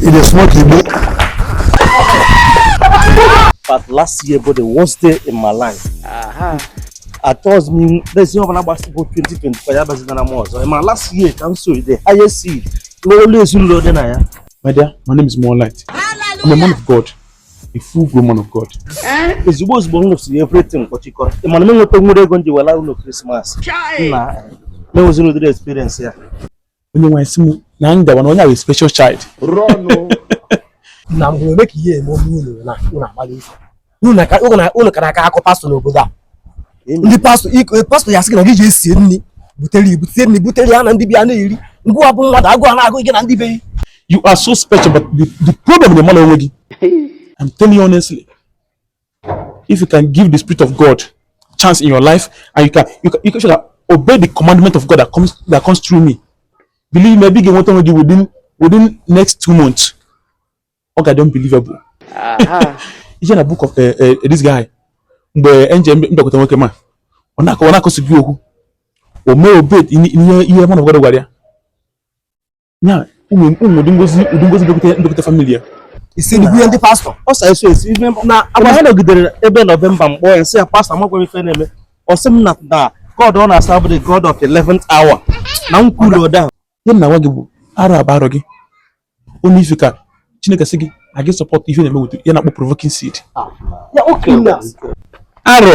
e dey smoke igbo. but last year bụ the worst day in my life. Aha. atọs m n'ezi ọbụla gbasịbụ 2024 ya bazitara m ọzọ ma last year ka m sow the highest seed n'ọlụ ezinụlọ dị na ya my dear my name is Moonlight I'm a man of God a full grown man of God ozugbo ozugbo m nụsịrị everything kpọchikọrọ ị ma na m enweta nwere ego m ji wee laa ụlọ krismas na m enweziri ụdịrị experience ya onye nwaanyị sị m na m gawa na onye ahụ special child na mgbe eme ka ihe eme onye unu na unu agbala ife unu ka na-akọ akọ pastọ n'obodo a ndị pastọ eh, pastọ ya sị gị na gị jee sie nri butere ibu tie nri butere ya na ndị be ya na-eri ngwa bụ mmadụ agụụ ana-agụ gị na ndị be gị you are so special but the, the problem bụ ị marọ onwe gị I'm telling you honestly If you can give the Spirit of God chance in your life and you can, you can, you can show that obey the commandment of God that comes, that comes through me, believe me, ị ga-enweta onwe gị within, within next two months. Ọ ga-adị unbelievable. Uh-huh. Ije na book of uh, uh, this guy. Mgbe angel bịakwute nwoke ma ọ na-akọsi gị okwu o mee obey ihe man of God gwara ya ya ụmụ ụmụ ụdị ngozi ụdị ngozi bịakwute bịakwute famili ya ị sị na ihe ndị pastọ ọ sị sow seed ife na agba ha nọgidere ebe nọvemba m kpọọ ya sị ya pastọ amakwa ife na-eme ọ sị m na na god ọ na-aserve bụ the god of the 11th hour na m kwuru ụda ahụ ihe m na-agwa gị bụ arọ a bụ arọ gị only if you can chineke sị gị a gị sọpọtụ ihe na-eme weta ihe a na-akpọ provoking seed ya okay na arọ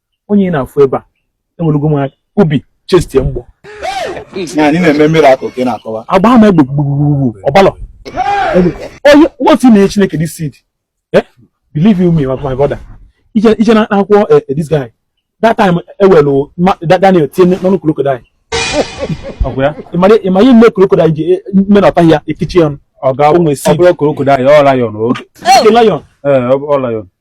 onye ị na-afụ ebe a enwelugo m obi chestie mgbọ agbaa m egbe gbugbugbu ọbalọ onye otu na-enye chineke this seed eh? believe you me my brother ije na akwụkwọ eh, eh, this guy that time ewelu daniel tie n'ọnụ krokodil ịma ihe mere krokodil ji mee na ọtaghị ya ekichi ya ọnụ ọ ga-abụ nwe si ọ bụrọ krokodil ọ lion o lion ọ lion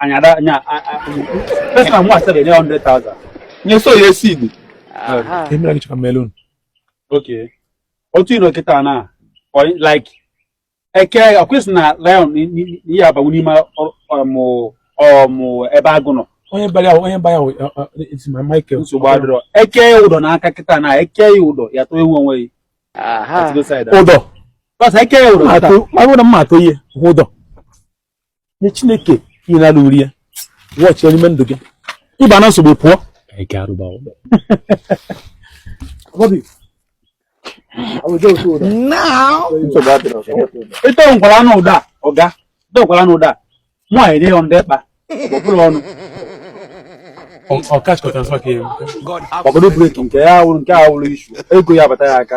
anyị ada anya pesa nwa asịrị nye 100,000 nye sow ya seed emere gị chọka melon oke otu ịnọ kịta na like eke ọkwesị na lion ị ya-abanwu n'ime ọmụ ọmụ ebe agụ nọ onye bara ya onye bara ya esi ma Michael nsogbu adịrọ eke ya ụdọ n'aka kịta na eke ya ụdọ ya atọnwu onwe ya ụdọ eke ya ụdọ ma ụdọ mma atọ ihe ụdọ nye chineke ihe na-alụ uri ya watch ya n'ime ndụ gị ịba na nsogbu pụọ ịtọ ngwara anụ ụda ọga ịtọ ngwara anụ ụda mụ anyị dị ya ndị kpa ọ bụrụ ọnụ ọkachikọta nsọ ka ya ọbụrụ breki nke ya wụrụ nke a wụrụ issue ego ya abata ya aka